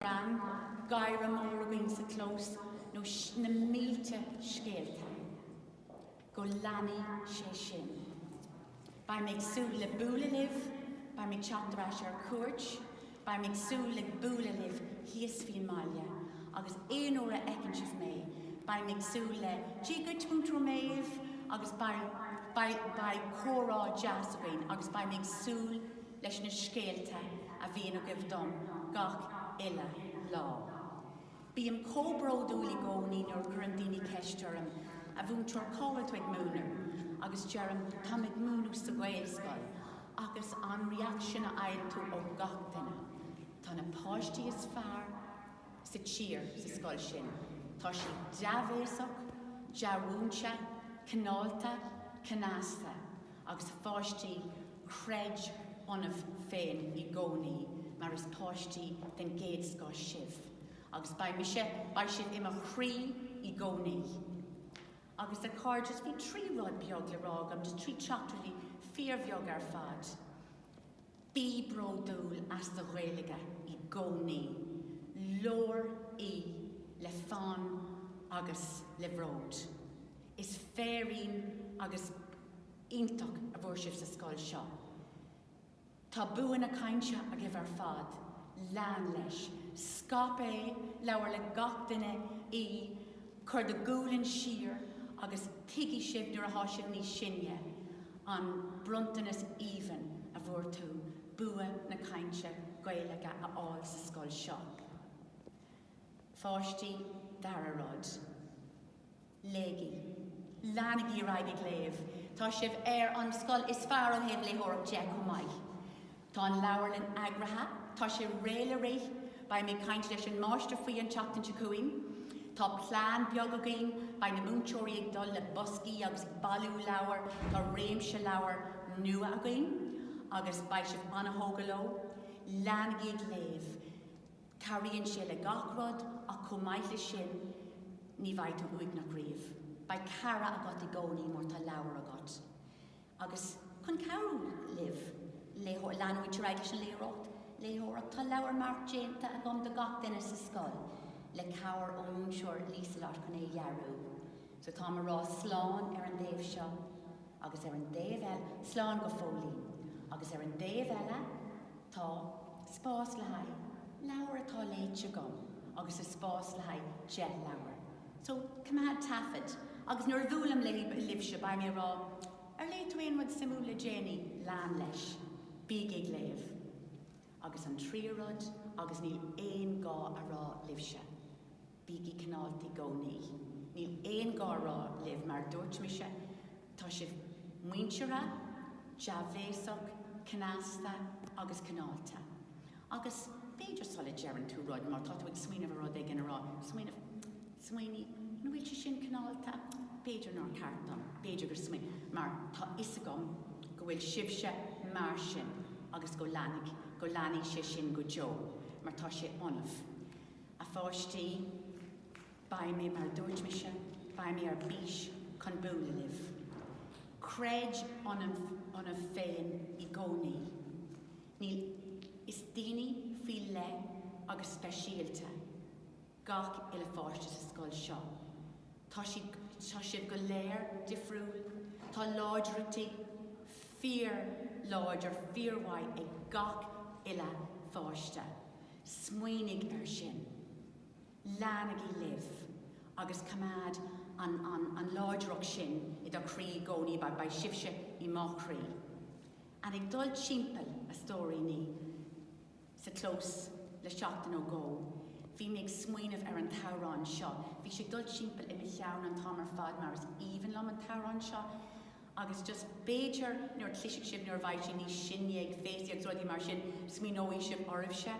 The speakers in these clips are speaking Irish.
Bran, gáire mór againn sa chlós nó na mílte scéalta. Go leanaí sé sin. Beidh mé ag súil le bualadh libh, beidh mé ag teacht ar ais ar cuairt, beidh mé ag súil le bualadh libh thíos faoin mbaile agus aon uair a fheiceann sibh mé, beidh mé ag súil le Dia dhuit Múinteoir Méabh agus beidh comhrá deas againn agus beidh mé ag súil leis na scéalta a bhíonn agaibh dom gach uile lá. Bím chomh bródúil i gcónaí nuair a chuireann daoine ceist orm, 'A Mhúinteoir, cá bhfuil tú ag múineadh? agus deirim, 'Táim ag múineadh sa Ghaelscoil. agus an reaction a fhaigheann tú ó gach duine, 'Tá na páistí is fearr sa tír sa scoil sin. Tá siad dea-bhéasach, dea-mhúinte, cineálta, cneasta. agus a pháistí creid ionaibh féin i gcónaí mar is páistí den gcéad scoth sibh agus beidh mise, beidh sibh i mo chroí i gcónaí. Agus a chairdeas bhí trí rud beag le rá agam, trí theachtaireacht fíorbheag ar fad. Bí bródúil as do Ghaeilge i gcónaí, labhair í le fonn agus le bród. Is féirín agus iontach a fuair sibh sa scoil seo. Tá bua na cainte agaibh ar fad, lean leis, scaip é, labhair le gach duine í, Cuir do ghualainn siar agus tuigfidh sibh nuair atá sibh níos sine, an bronntanas aoibhinn a bhfuair tú, bua na cainte Gaeilge a fháil sa scoil seo. A pháistí dara rud. Léigí. Leanaigí ar aghaidh ag léamh. Tá sibh ar an scoil is fearr ó thaobh léitheoireachta de chomh maith. Tá an leabharlann eagraithe, tá sé réidh le rith, beidh mé ag caint leis an máistir faoi an tseachtain seo chugainn. Tá plean beag againn, beidh na múinteoirí ag dul le boscaí agus ag bailiú leabhar, tá réimse leabhar nua againn agus beidh sibh an-thógtha leo. Leanaigí ag léamh. Cabhraíonn sé le gach rud ach chomh maith leis sin ní bheidh tú uaigneach riamh. Beidh cara agat i gcónaí má tá leabhar agat. Agus chun cabhrú libh leanúint ar aghaidh leis an léitheoireacht, léitheoireacht, tá leabhar marc déanta agam do gach duine sa scoil, le cabhair ón múinteoir Liselott chun é a dhearadh. So táim ag rá slán ar an dtaobh seo, agus ar an dtaobh eile, slán go fóillín, agus ar an dtaobh eile, tá spás le haghaidh leabhair atá léite agam, agus is spás le haghaidh deich leabhar. So, coimeád taifead. Agus nuair a bhuailim libhse, beidh mé ag rá, Ar léigh tú aon rud suimiúil le déanaí? Lean leis. Bígí ag léamh. Agus an tríú rud, agus níl aon gá a rá libhse, bígí cineálta i gcónaí. Níl aon gá a rá libh, mar a dúirt mise, Tá sibh muinteartha, dea-bhéasach, cneasta agus cineálta. Agus b'fhéidir sula deireann tú rud, má tá tú ag smaoineamh ar rud éigin a rá, smaoineamh, smaoinigh, an bhfuil sé sin cineálta? B'fhéidir nár cheart dom, b'fhéidir gur smaoin. Mar tá 'fhios agam go bhfuil sibhse mar sin agus go leanfaidh, go leanfaidh sé sin go deo mar tá sé ionaibh. A pháistí. Beidh mé mar a dúirt mise, beidh mé ar bís chun bualadh libh. Creid ionaibh féin i gcónaí. Níl, is daoine faoi leith agus speisialta gach uile pháiste sa scoil seo. Tá siad, tá sibh go léir difriúil, tá láidriochtaí fíorláidir fíormhaith ag gach uile pháiste. Smaoinigh ar sin. Leanaigí libh agus coimeád an an an láidreacht sin i do chroí i gcónaí, beidh sibhse i mo chroí. An ag dul timpeall, a stóiríní, sa chlós le seachtain nó dhó, bhí mé ag smaoineamh ar an t-amhrán seo. Bhí sé ag dul timpeall i mo cheann an t-am ar fad mar is aoibhinn liom an t-amhrán seo. Agus just b'fhéidir nuair a cloisfidh sibh nuair a bheidh sibh níos sine ag féastaí agus rudaí mar sin, smaoineoidh sibh oraibhse,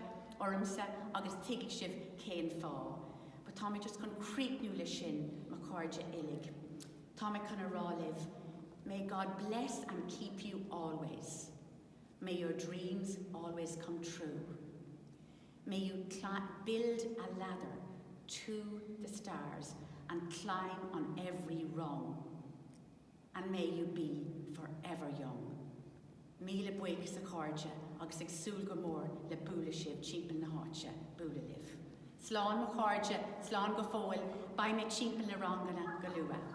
ormsa agus tuigfidh sibh cén fáth. But tá mé just chun críochnú leis sin, mo chairde uilig. Tá mé chun a rá libh, May God bless and keep you always. May your dreams always come true. May you build a ladder to the stars and climb on every rung. And may you be forever young. Míle buíochas a chairde agus ag súil go mór le bualadh sibh timpeall na háite, bualadh libh. Slán mo chairde, slán go fóill, beidh mé timpeall na ranganna go luath.